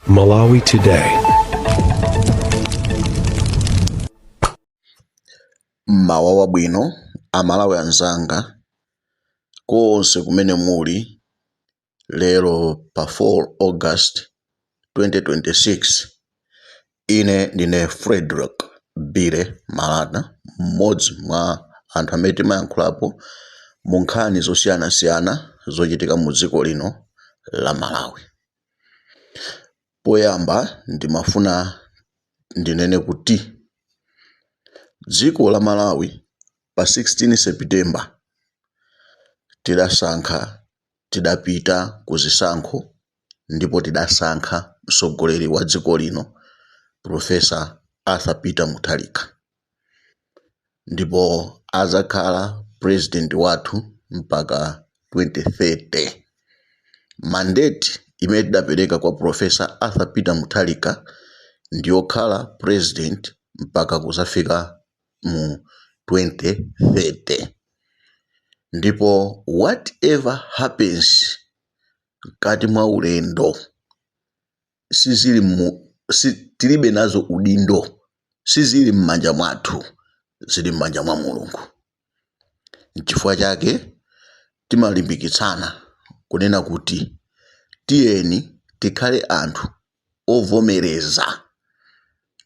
Malawi Today. mmawa wabwino amalawi anzanga konse kumene muli lero pa 4 august 2026 Ine ndine Fredrick Billy Malata, m'modzi mwa anthu amene timayankhulapo mu nkhani zosiyanasiyana zochitika mu dziko lino la Malawi. Poyamba ndimafuna ndinene kuti dziko la Malawi pa 16 September tidasankha tidapita ku zisankho ndipo tidasankha mtsogoleri wa dziko lino Prof. Arthur Peter Mutharika ndipo adzakhala Purezidenti wathu mpaka 2030. Mandate imene tidapereka kwa Prof. Arthur Peter Mutharika ndi yokhala Purezidenti mpaka kudzafika mu 2030 ndipo whatever happens mkati mwa ulendo sizili, tilibe nazo udindo sizili m'manja mwathu zili m'manja mwa mulungu nchifukwa chake timalimbikitsana kunena kuti tiyeni tikhale anthu ovomereza.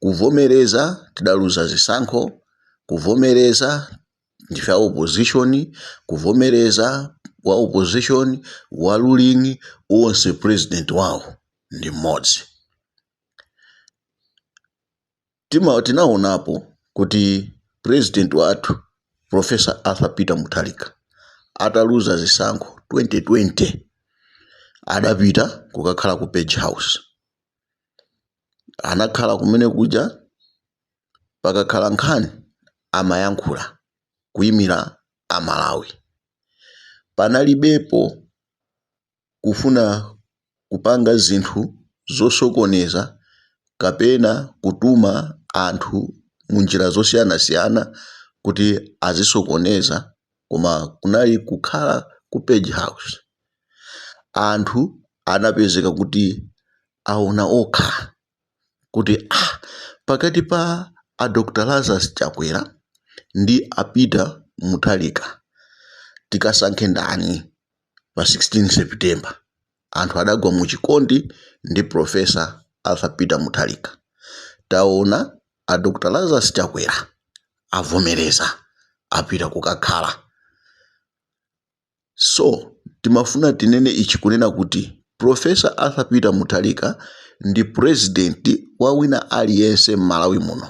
Kuvomereza tidaluza zisankho, kuvomereza ndife a opposition, kuvomereza wa opposition, wa ruling, onse president wawo ndi mmodzi. Tima, tinaonapo kuti president wathu Professor Arthur Peter Mutharika ataluza zisankho 2020 adapita kukakhala ku Page House, anakhala kumene kuja pakakhala nkhani amayankhula kuimira Amalawi, panalibepo kufuna kupanga zinthu zosokoneza kapena kutuma anthu munjira zosiyanasiyana kuti azisokoneza koma kunali kukhala ku page house anthu anapezeka kuti aona okha. kuti ah, pakati pa a Dr Lazarus Chakwera ndi a Peter Mutharika tikasankhe ndani pa 16 September. Anthu adagwa mu chikondi ndi Professor Arthur Peter Mutharika. Taona a Dr Lazarus Chakwera avomereza apita kukakhala So timafuna tinene ichi kunena kuti Prof. Arthur Peter Mutharika ndi president wa wina aliyense m'Malawi muno.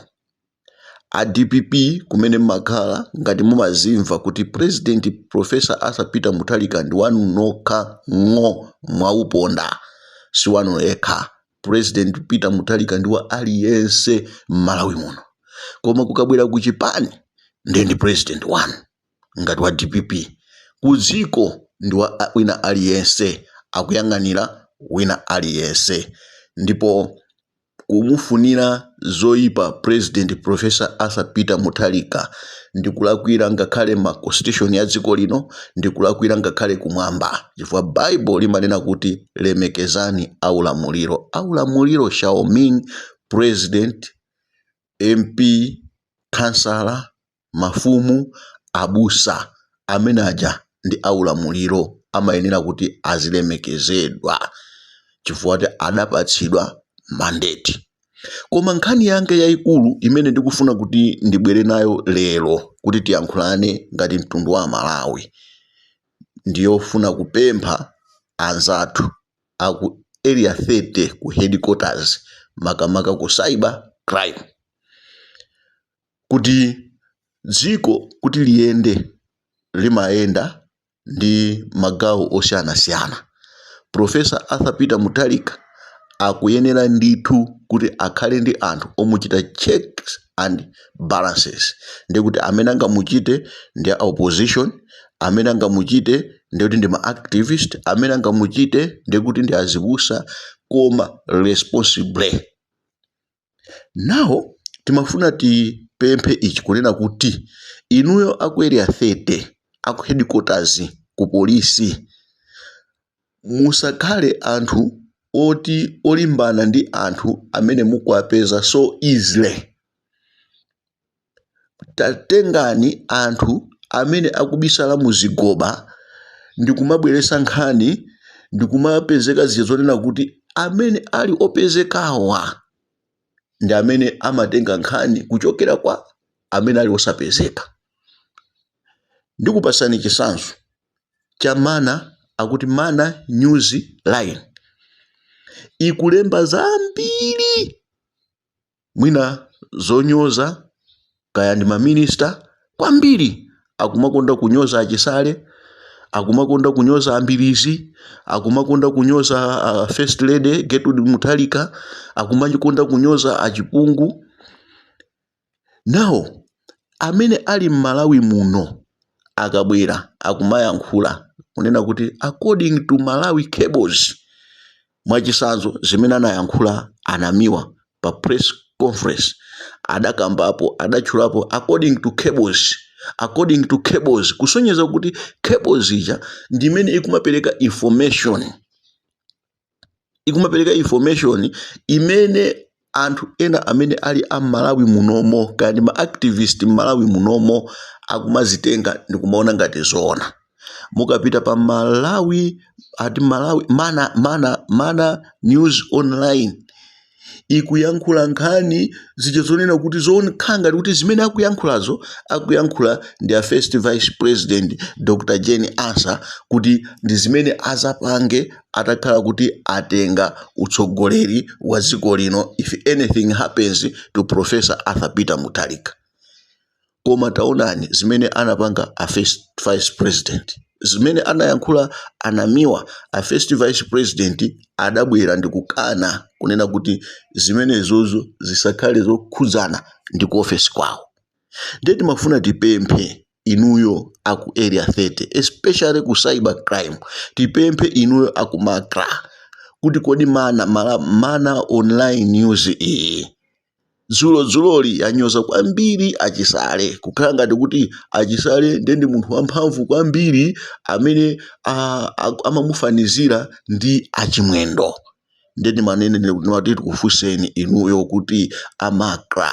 A dpp kumene mmakhala ngati mumazimva kuti president Prof. Arthur Peter Mutharika ndi wanu nokha ng'oo mwauponda. Si wanu yekha. President Peter Mutharika ndi wa aliyense m'Malawi muno. Koma kukabwera ku chipani ndiye ndi president wanu. ngati wa dpp kudziko ndi wa wina aliyense akuyang'anira wina aliyense ndipo kumufunira zoipa president professor Arthur Peter Mutharika ndikulakwira ngakhale ma constitution ya dziko lino ndikulakwira ngakhale kumwamba chifukwa bible limanena kuti lemekezani aulamuliro aulamuliro shall mean president MP kansala mafumu, abusa amene aja ndi aulamuliro amayenera kuti azilemekezedwa chifukwa kuti adapatsidwa mandate. Koma nkhani yanga yaikulu imene ndikufuna kuti ndibwere nayo lero kuti tiyankhulane ngati mtundu wa aMalawi ndiyofuna kupempha anzathu aku Area 30 ku headquarters makamaka ku cyber crime. kuti dziko kuti liyende limayenda ndi magawo osiyanasiyana. Prof. Arthur Peter Mutharika akuyenera ndithu kuti akhale ndi anthu omuchita checks and balances. Ndiye kuti amene angamuchite ndi a opposition, amene angamuchite ndiye kuti ndi ma activist, amene angamuchite ndiye kuti ndi azibusa koma responsible. now timafuna tipemphe ichi kunena kuti inuyo aku area 30 aku headquarters ku polisi musakhale anthu oti olimbana ndi anthu amene mukuwapeza so easily Tatengani anthu amene akubisala muzigoba ndikumabweresa nkhani ndikumapezeka zija zonena kuti amene ali opezekawa ndi amene amatenga nkhani kuchokera kwa amene ali osapezeka. Ndikupasani chisanzo cha mana akuti mana news line ikulemba zambiri. mwina zonyoza kaya ndi ma minister kwambiri akumakonda kunyoza achisale akumakonda kunyoza ambilizi akumakonda kunyoza a first lady Gertrude Mutharika akumakonda kunyoza achipungu nawo amene ali m'malawi muno akabwera akumayankhula kunena kuti according to malawi cables Mwachitsanzo zimene anayankhula a Namiwa pa press conference adakambapo adatchulapo according to cables according to cables kusonyeza kuti cables ija ndi imene ikumapereka information ikumapereka information imene anthu ena amene ali m'Malawi munomo kaya ndi ma activist m'Malawi munomo akumazitenga ndikumaona ngati zoona mukapita pa Malawi ati Malawi mana mana mana news online ikuyankhula nkhani zija zonena kuti zokhala ngati kuti zimene akuyankhulazo akuyankhula ndi a first vice president dr jane ansah kuti ndi zimene azapange atakhala kuti atenga utsogoleri wa dziko lino if anything happens to professor arthur peter mutharika koma taonani zimene anapanga a first vice president zimene anayankhula anamiwa a first vice president adabwera ndikukana kunena kuti zimenezozo zisakhale zokhudzana ndi ku ofesi kwawo ndiye timafuna tipemphe inuyo aku area 30 especially ku cyber crime tipemphe inuyo aku macra kuti kodi mana mala, mana online news iyi dzulodzuloli yanyoza kwambiri achisale kukhala ngati kuti achisale ndiye ndi munthu wamphamvu kwambiri amene ah, ah, amamufanizira ndi achimwendo ndiye ndimanene ndimati tikufunseni inuyo kuti a macra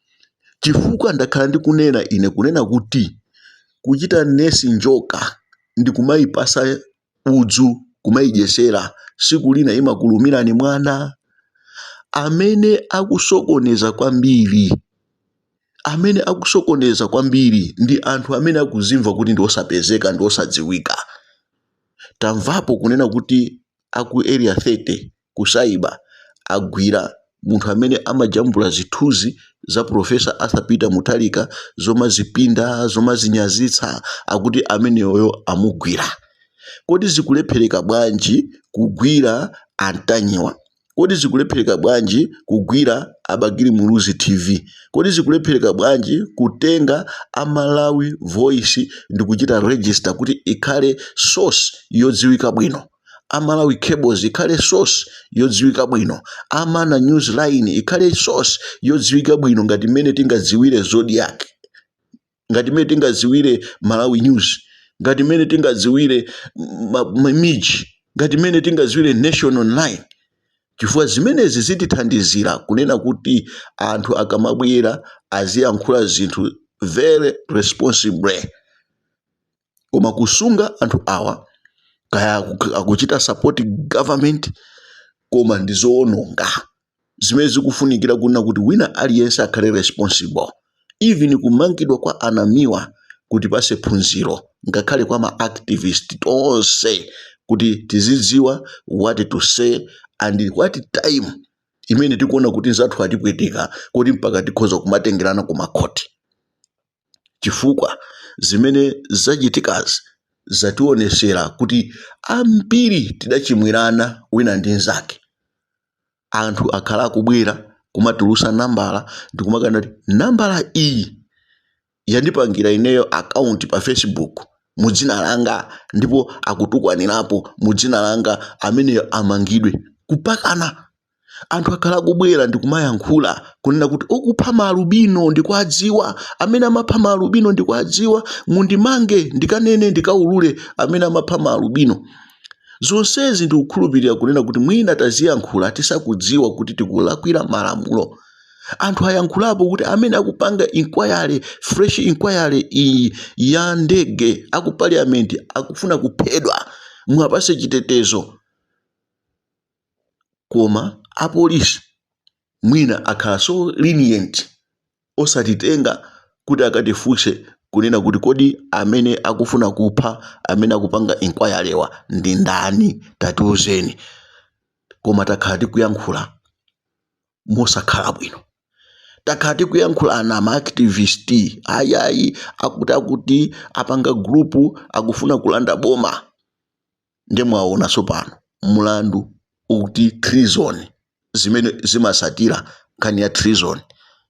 chifukwa ndakhala ndikunena ine kunena kuti kuchita nesi njoka ndikumayipasa udzu kumayidyesera siku lina imakulumirani mwana amene akusokoneza kwambiri amene akusokoneza kwambiri ndi anthu amene akuzimva kuti ndi osapezeka ndi osadziwika tamvapo kunena kuti aku area 30 ku cyber agwira munthu amene amajambula zithunzi za professor Arthur Peter Mutharika zomazipinda zomazinyazitsa akuti ameneyoyo amugwira kodi zikulephereka bwanji kugwira antanyiwa kodi zikulephereka bwanji kugwira abakili muluzi tv kodi zikulephereka bwanji kutenga amalawi voice ndikuchita register kuti ikhale source yodziwika bwino a Malawi Cables ikhale source yodziwika bwino a Mana news line ikhale source yodziwika bwino ngati mmene tingadziwire zodiac ngati mmene tingadziwire malawi news ngati mmene tingadziwire ma- ma- miji ngati mmene tingadziwire nation online chifukwa zimenezi zitithandizira kunena kuti anthu akamabwera aziyankhula zinthu very responsibly koma kusunga anthu awa kaya aku- akuchita support government koma ndi zoononga zimene zikufunikira kunena kuti wina aliyense akhale responsible even kumangidwa kwa anamiwa kutipase phunziro ngakhale kwa ma activist tonse kuti tizidziwa what to say and what time imene tikuona kuti anzathu atipweteka kuti mpaka tikhoza kumatengerana ku makhoti chifukwa zimene zachitikazi zationesera kuti ambiri tidachimwirana wina ndi nzake. Anthu akhala akubwera kumatulusa nambala ndikumakana kuti nambala iyi yandipangira ineyo account pa Facebook mu dzina langa ndipo akutukwanirapo mu dzina langa ameneyo amangidwe. Kupakana. anthu akhala akubwera ndikumayankhula kunena kuti okupha maalubino ndikuadziwa amene amapha maalubino ndikuadziwa mundimange ndikanene ndikaulule amene amapha maalubino zonsezi ndikukhulupirira kunena kuti mwina taziyankhula tisakudziwa kuti tikulakwira malamulo anthu ayankhulapo kuti amene akupanga inquiry fresh inquiry iyi ya ndege aku parliament akufuna kuphedwa muwapase chitetezo koma apolisi mwina akhala so lenient osatitenga kuti akatifunse kunena kuti kodi amene akufuna kupha amene akupanga inquiry-wa ndi ndani tatiuzeni koma takhala tikuyankhula mosakhala bwino takhala tikuyankhula ena ma activist ayayi akuti akuti apanga group akufuna kulanda boma nde mwaona tsopano mlandu ukuti treason zimene zimatsatira nkhani ya treason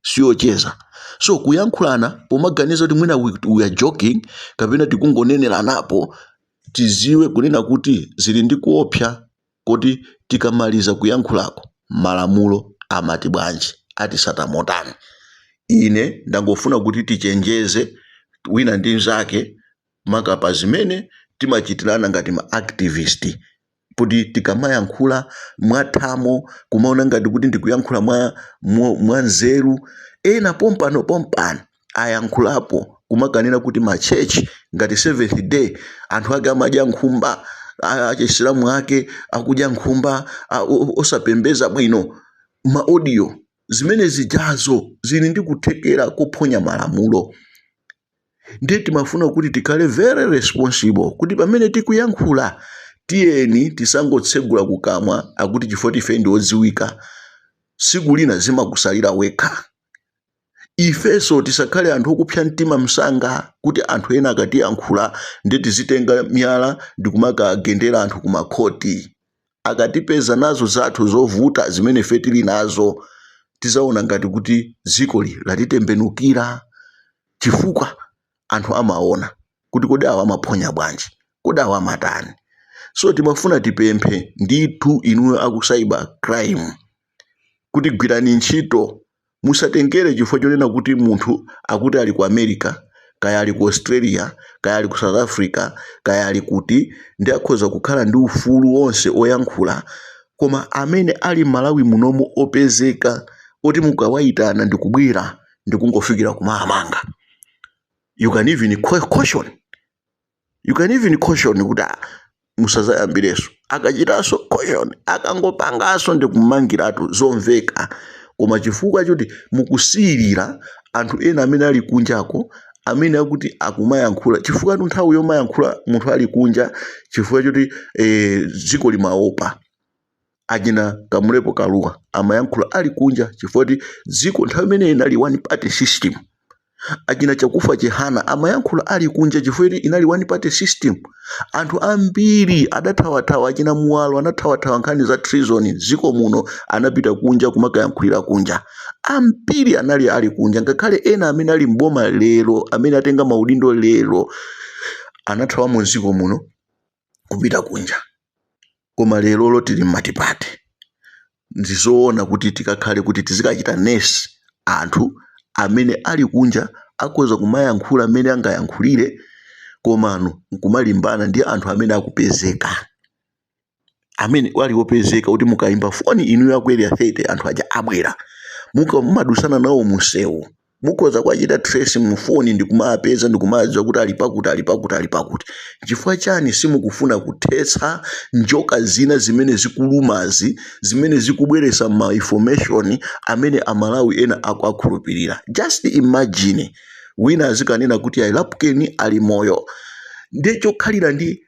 siyocheza so kuyankhulana pomaganiza kuti mwina we, we are joking kapena tikungonenelanapo tiziwe kunena kuti zili ndi kuopsa koti tikamaliza kuyankhulako malamulo amati bwanji atisata motani ine ndangofuna kuti tichenjeze wina ndi mzake maka pa zimene timachitirana ngati ma activist kuti tikamayankhula mwathamo kumaona ngati kuti tikuyankhula mwa, mwa, mwa nzeru ena pompano pompano ayankhulapo kumakanena kuti ma church ngati seventh day anthu ake amadya nkhumba a- achisilamu ake akudya nkhumba a- o- o- osapembedza bwino ma audio zimene zijazo zili ndi kuthekera kophonya malamulo ndiye timafuna kuti tikhale very responsible kuti pamene tikuyankhula tiyeni tisangotsegula kukamwa akuti chifoti ife ndi odziwika tsiku lina zimakusalira wekha ifenso tisakhale anthu okupsa mtima msanga kuti anthu ena akatiyankhula ndiye tizitenga miyala ndikumakagendera anthu kumakhoti akatipeza nazo zathu zovuta zimene ife tili nazo tizaona ngati kuti dzikoli latitembenukira chifukwa anthu amaona kuti kodi awa amaphonya bwanji kodi awa amatani so timafuna tipemphe ndithu inuyo aku cyber crime kuti gwirani ntchito Musatengere chifukwa chonena kuti munthu akuti ali ku America, kaya ali ku Australia, kaya ali ku South Africa, kaya ali kuti, nde akhoza kukhala ndi ufulu wonse oyankhula, koma amene ali m'Malawi munomo opezeka oti mukawaitana ndikubwera ndikungofikira kumawamanga. You can even caution. you can even caution kuti ah, musazayambirenso akachitanso caution akangopangaso ndikummangiratu zomveka koma chifukwa choti mukusiyirira anthu ena amene ali kunjako amene akuti akumayankhula chifukwa tu nthawi yomayankhula munthu ali kunja chifukwa choti eh, dziko limaopa achina Kamulepo Kaluwa amayankhula ali kunja chifukwa kuti dziko nthawi imene inali one party system. Achina Chakufa Chihana amayankhula ali kunja chifukwa kuti inali one party system. Anthu ambiri adathawathawa, achina Muwalo anathawathawa nkhani za treason m'dziko muno, anapita kunja kumakayankhulira kunja. Ambiri anali ali kunja, ngakhale ena amene ali m'boma lero, amene atenga maudindo lero, anathawamo m'dziko muno. kupita kunja koma lerolo tili mmatipate ndizoona kuti tikakhale kuti tizikachita nurse anthu amene ali kunja akhoza kumayankhula mmene angayankhulire komano nkumalimbana ndi anthu amene akupezeka amene ali opezeka kuti mukayimba foni inuyo aku area 30 anthu aja abwera muka mumadusana nawo munsewu mukhoza kuwachita trace mufoni ndikumawapeza ndikumawadziwa kuti ali pakuti ali pakuti ali pakuti chifukwa chani simukufuna kuthetsa njoka zina zimene zikulumazi zimene zikubweresa ma information amene amalawi ena akuakhulupirira just imagine wina azikanena kuti ayi lapukeni ali moyo ndiye chokhalira ndi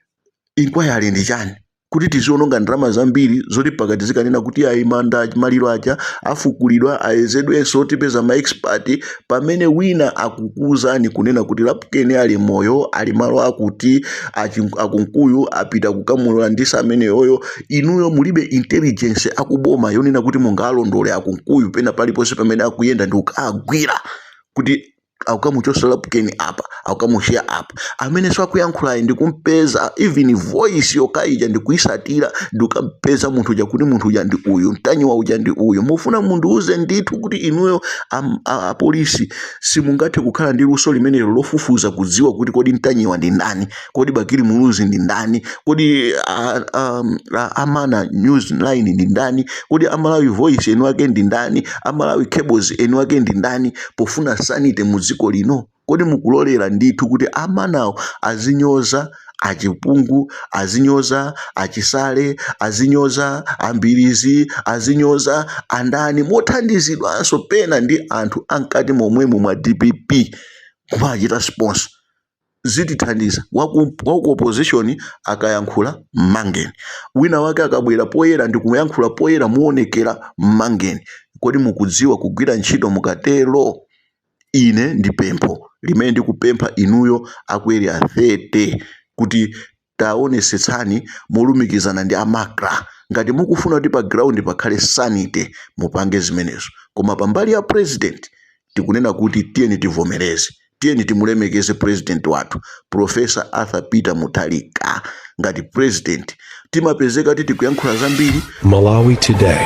inquiry ndi chani kuti tiziononga ndalama zambiri zoti mpaka tizikanena kuti ayi manda maliro aja afukulidwa ayezedwenso tipeza ma expert pamene wina akukuuzani kunena kuti lapukeni ali moyo ali malo akuti achi- akunkuyu apita kukamulula ndisa ameneyoyo inuyo mulibe intelligence akuboma yonena kuti mungawalondole akunkuyu pena paliponse pamene akuyenda ndi kukawagwira kuti akukamuchosa lapukeni apa akukamusiya apa amene sakuyankhulayi ndikumpeza even voice yokha ija ndikuyisatira ndikukampeza munthu uja kuti munthu uja ndi uyu mtanyiwa uja ndi uyu mufuna mundiuze ndithu kuti inuyo am- a- apolisi simungathe kukhala ndi luso limenelo lofufuza kudziwa kuti kodi mtanyiwa ndi ndani kodi bakili muluzi ndi ndani kodi a- a- a- amana news line ndi ndani kodi amalawi voice eni wake ndi ndani amalawi cables eni wake ndi ndani pofuna sanity mu dziko lino kodi mukulolera ndithu kuti amanawo azinyoza achipungu azinyoza achisale azinyoza ambilizi azinyoza andani mothandizidwanso pena ndi anthu amkati momwemo mwa dpp kumachita sponsor zitithandiza waku waku opposition akayankhula mmangeni wina wake akabwera poyera ndikuyankhula poyera moonekera mmangeni kodi mukudziwa kugwira ntchito mukatero ine ndi pempho limene ndikupempha inuyo aku area 30 kuti Taonesetsani molumikizana ndi a MACRA ngati mukufuna kuti pa ground pakhale sanity mupange zimenezo koma pa mbali ya president tikunena kuti tiyeni tivomereze tiyeni timulemekeze president wathu Professor Arthur Peter Mutharika ngati president timapezeka kuti tikuyankhula zambiri Malawi Today.